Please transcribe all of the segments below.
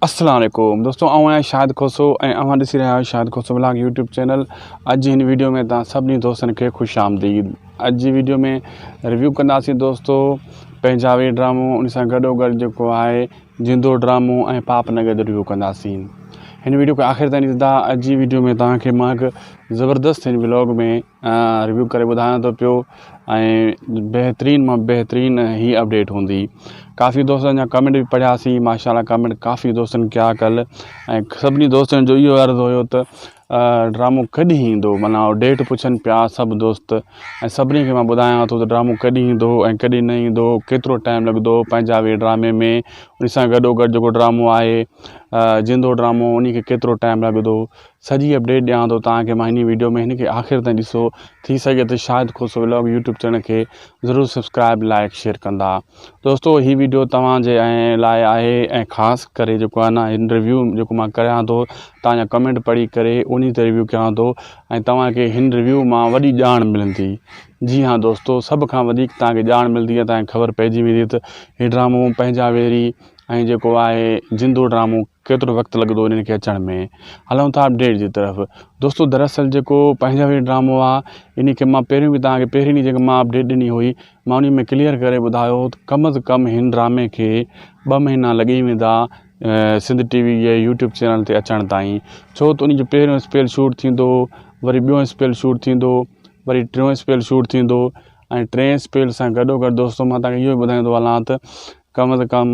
السلام عليڪم دوستو آئون آهيان شاهد کوسو ۽ اوهان ڏسي رهيا آهيو Shahid Khoso vlog YouTube channel اڄ جي هن ويڊيو ۾ توهان سڀني دوستن کي خوش آمديد اڄ جي ويڊيو ۾ ريويو ڪنداسين دوستو پنجابي ڊرامو ان سان گڏو گڏ جيڪو آهي جندو ڊرامو ۽ پاپ نگر جو ريويو ڪنداسين هن ويڊيو کي آخر تائين ڏسندا اڄ جي ويڊيو ۾ توهان کي ماهڪ زبردست هن ولاگ ۾ ريويو ڪري ٻڌايان ٿو پيو ۽ بهترين مان بهترين هي اپڊيٽ هوندي ڪافي دوستن جا ڪمينٽ به پڙهياسي ماشاء الله ڪمينٽ ڪافي دوستن ڪيا ڪل ۽ سڀني دوستن جو اهو عرض هيو ته ڊرامو ڪڏهن ايندو معنيٰ ڊيٽ پڇن پيا سڀ دوست ۽ سڀني کي مان ٻڌايان ٿو ته ڊرامو ڪڏهن ايندو ۽ ڪڏهن نه ايندو ڪيترو ٽائيم لڳندو پنجابي ڊرامي ۾ ان سان گڏو گڏ جيڪو ڊرامو آهي زندو ڊرامو ان کي ڪيترو ٽائيم لڳندو سڄي اپڊيٽ ڏيان ٿو توهان کي مان هني ويڊيو ۾ هن کي آخر تائين ڏسو ٿي سگهي ته Shahid Khoso vlog YouTube channel کي ضرور سبسڪرائب لائڪ شيئر ڪندا دوستو هي ويڊيو توهان جي لاء آهي ۽ خاص ڪري جيڪو آهي نه هن ريويو جيڪو مان ڪريان ٿو توهان جا ڪمينٽ پڙهي ڪري انهي تي ريويو ڪيان ٿو ۽ توهان کي هن ريويو مان وڏي ڄاڻ ملندي جي ها دوستو سڀ کان وڌيڪ توهان کي ڄاڻ ملندي ۽ توهان کي خبر پئجي ويندي ته هي ڊرامو پنهنجا ويري ۽ جيڪو آهي جندو ڊرامو ڪيترو وقت لڳندو انهن کي اچڻ ۾. هلون ٿا اپڊيٽ جي طرف. دوستو دراصل جيڪو پنهنجو هي ڊرامو آ انهي کي مان پهريون به توهان کي پهرين ڏينهن جيڪي مان اپڊيٽ ڏني هئي مان انهي ۾ ڪليئر ڪري ٻڌايو هو ته ڪم از ڪم هن ڊرامي کي ٻه مهينا لڳي ويندا سنڌ ٽي وي جي يوٽيوب چينل تي اچڻ تائين ڇو ته انهي جو پهريون اسپيل شوٽ ٿيندو وري ٻيون اسپيل شوٽ ٿيندو وري ٽيون اسپيل شوٽ ٿيندو ۽ ٽين اسپيل سان گڏو گڏ دوستو مان توهان کي اهو ٻڌائيندو هلان ته ڪم از ڪم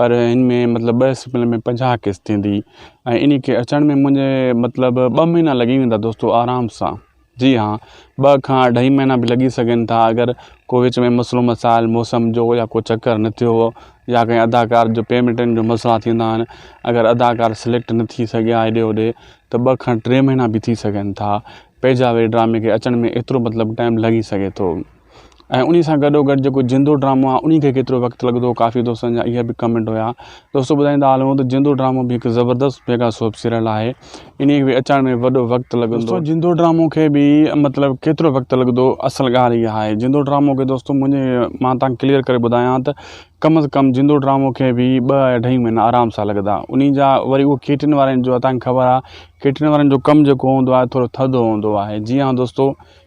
پر ان ۾ مطلب ٻه سپن ۾ پنجاهه قسط ٿيندي ۽ ان کي اچڻ ۾ منهنجي مطلب ٻه مهينا لڳي ويندا دوستو آرام سان جي ها ٻه کان اڍائي مهينا به لڳي سگهن ٿا اگر ڪو وچ ۾ مسئلو مسائل موسم جو يا ڪو چڪر نه ٿيو هو يا ڪنهن اداڪار جو پيمنٽن جو مسئلا ٿيندا آهن اگر اداڪار سليڪٽ نه ٿي سگهيا هيڏي هوڏي ته ٻه کان ٽي مهينا به ٿي سگهن ٿا پيجا واري ڊرامي کي اچڻ ۾ ايترو مطلب ٽائيم لڳي سگهي ٿو ۽ انهي سان گڏو گڏ جيڪو جندو ڊرامو آهي انهي کي ڪيترو وقت لڳندو هو ڪافي دوستن جا اهي به ڪمينٽ هيا دوستو ٻڌائيندا هلون ته جندو ڊرامو به هڪ زبردست ميگا سوپ سيريل آهي انهي کي به اچڻ ۾ وڏو وقت لڳندو دوستو جندو ڊرامو کي به مطلب ڪيترو وقت لڳندو اصل ڳالهه اها آهي جندو ڊرامو کي دوستو منهنجي مان تان ڪليئر ڪري ٻڌايان ته ڪم از ڪم جندو ڊرامو کي به ٻه اڍائي مهينا آرام سان لڳندا انهي جا وري اهو ڪيٽرن وارن جو تان کي خبر آهي ڪيٽرن وارن جو ڪم جيڪو هوندو آهي ٿورو ٿڌو هوندو آهي جي ها دوستو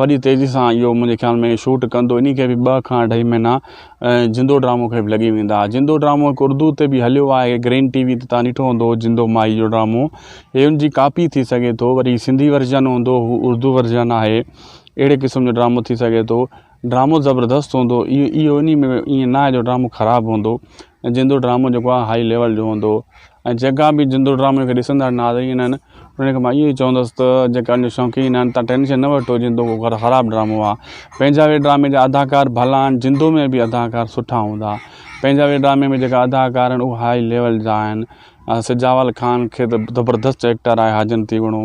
وڏي تيزي سان اهو منهنجي خيال ۾ شوٽ ڪندو انهي کي به ٻه کان اڍائي مهينا جندو ڊرامو کي به لڳي ويندا جندو ڊرامو هڪ اردو تي به هليو آهي گرين ٽي وي تي تان ڏٺو هوندو جندو مائي جو ڊرامو هي ان جي ڪاپي ٿي سگهي ٿو وري سنڌي ورجن هوندو هو اردو ورجن آهي اهڙي قسم جو ڊرامو ٿي سگهي ٿو ڊرامو زبردست هوندو اهو انهي ۾ ائين ناهي جو ڊرامو خراب هوندو ۽ جندو ڊرامو جيڪو آهي هائي ليول جو هوندو ۽ جيڪا به جندو ڊرامو کي ڏسندڙ ناظرين آهن انهن کي مان اهو ئي چوندس ته جيڪا ان شوقين آهن تان ٽينشن نه وٺو جندو ڪو خراب ڊرامو آهي پنهنجا وي ڊرامي جا اداڪار ڀلا آهن جندو ۾ به اداڪار سٺا هوندا پنهنجا وي ڊرامي ۾ جيڪا اداڪار آهن اهو هائي ليول جا آهن سجاول خان کي ته زبردست ايڪٽر آهي حاجن تيوڻو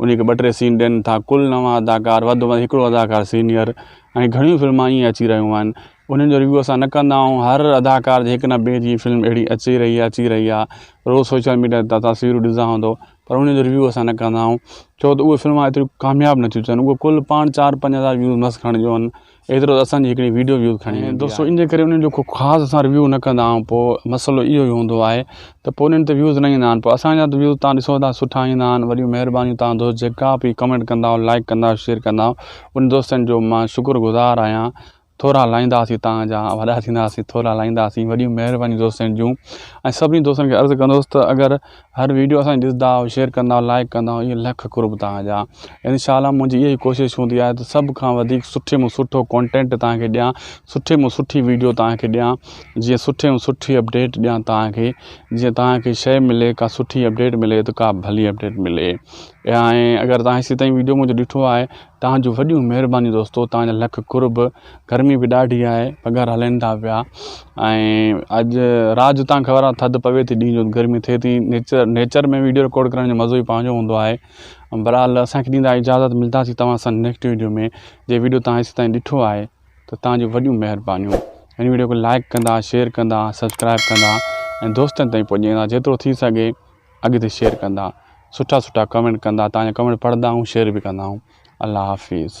انهي کي ٻه ٽي سين ڏين ٿا ڪل نو اداڪار وڌ ۾ وڌ هڪڙو اداڪار سينيئر ۽ گهڻيون فلما ائين اچي رهيون آهن انهن جو ريويو اسان نه ڪندا آهيون هر اداڪار جي هڪ نه ٻئي جي فلم اهڙي اچي رهي آهي اچي رهي آهي روز سوشل ميڊيا تي تاسين تصويرون ڏسندا هوندو پر انهن جو ريويو اسان نه ڪندا آهيون ڇو ته اهي فلما ايتريون ڪامياب نٿيون ٿين اهي ڪل پاڻ چار پنج هزار ويوز مس کڻجون ايترو ته اسان جي هڪڙي ويڊيو ويوز کڻي ويندي آهي دوستو ان جي ڪري انهن جو ڪو خاص اسان ريويو نه ڪندا آهيون پوء مسئلو اهو ئي هوندو آهي ته پوء انهن تي ويوز نه ايندا آهن پوء اسان جا ته ويوز تهان ڏسو ٿا سٺا ايندا آهن وڏيون مهربانيون تهان دوست جيڪا به ڪمينٽ ڪندا آهيو لائڪ ڪندا آهيو شيئر ڪندا آهيو ان دوستن جو مان شڪر گذار آهيان ٿورا لائينداسين تهان جا وڏا ٿينداسين ٿورا لائينداسين وڏيون مهربانيون دوستن جون ۽ سڀني دوستن کي عرض ڪندوس ته اگر هر ويڊيو اسان جي ڏسندا آهيو شيئر ڪندا آهيو لائڪ ڪندا آهيو اهي لک قرب توهان جا ان شاء الله منهنجي اها ئي ڪوشش هوندي آهي ته سڀ کان وڌيڪ سٺي ۾ سٺو ڪونٽينٽ توهان کي ڏيان سٺي ۾ سٺي ويڊيو توهان کي ڏيان جيئن سٺي ۾ سٺي اپڊيٽ ڏيان توهان کي جيئن توهان کي شيء ملي ڪا سٺي اپڊيٽ ملي ته ڪا ڀلي اپڊيٽ ملي ۽ اگر توهان هيسي تائين ويڊيو منهنجو ڏٺو آهي توهان جون وڏيون مهربانيون دوستو توهان جا لک قرب گرمي به ڏاڍي آهي پگهر هلين ٿا پيا ۽ اڄ رات جو تان خبر آهي ٿڌ پوي ٿي ڏينهن جو گرمي ٿئي ٿي نيچر نيچر ۾ ويڊيو رڪارڊ ڪرڻ جو مزو ئي پنهنجو هوندو آهي برحال اسانکي ڏيندا اجازت ملداسي توهان سان نيڪسٽ ويڊيو ۾ جي ويڊيو توهان هيسي تائين ڏٺو آهي ته توهان جون وڏيون مهربانيون هن ويڊيو کي لائڪ ڪندا شيئر ڪندا سبسڪرائب ڪندا ۽ دوستن تائين پڄائيندا جيترو ٿي سگهي اڳتي شيئر ڪندا سٺا سٺا ڪمينٽ ڪندا توهان جا ڪمينٽ پڙهندا آهيون شيئر به ڪندا آهيون الله حافظ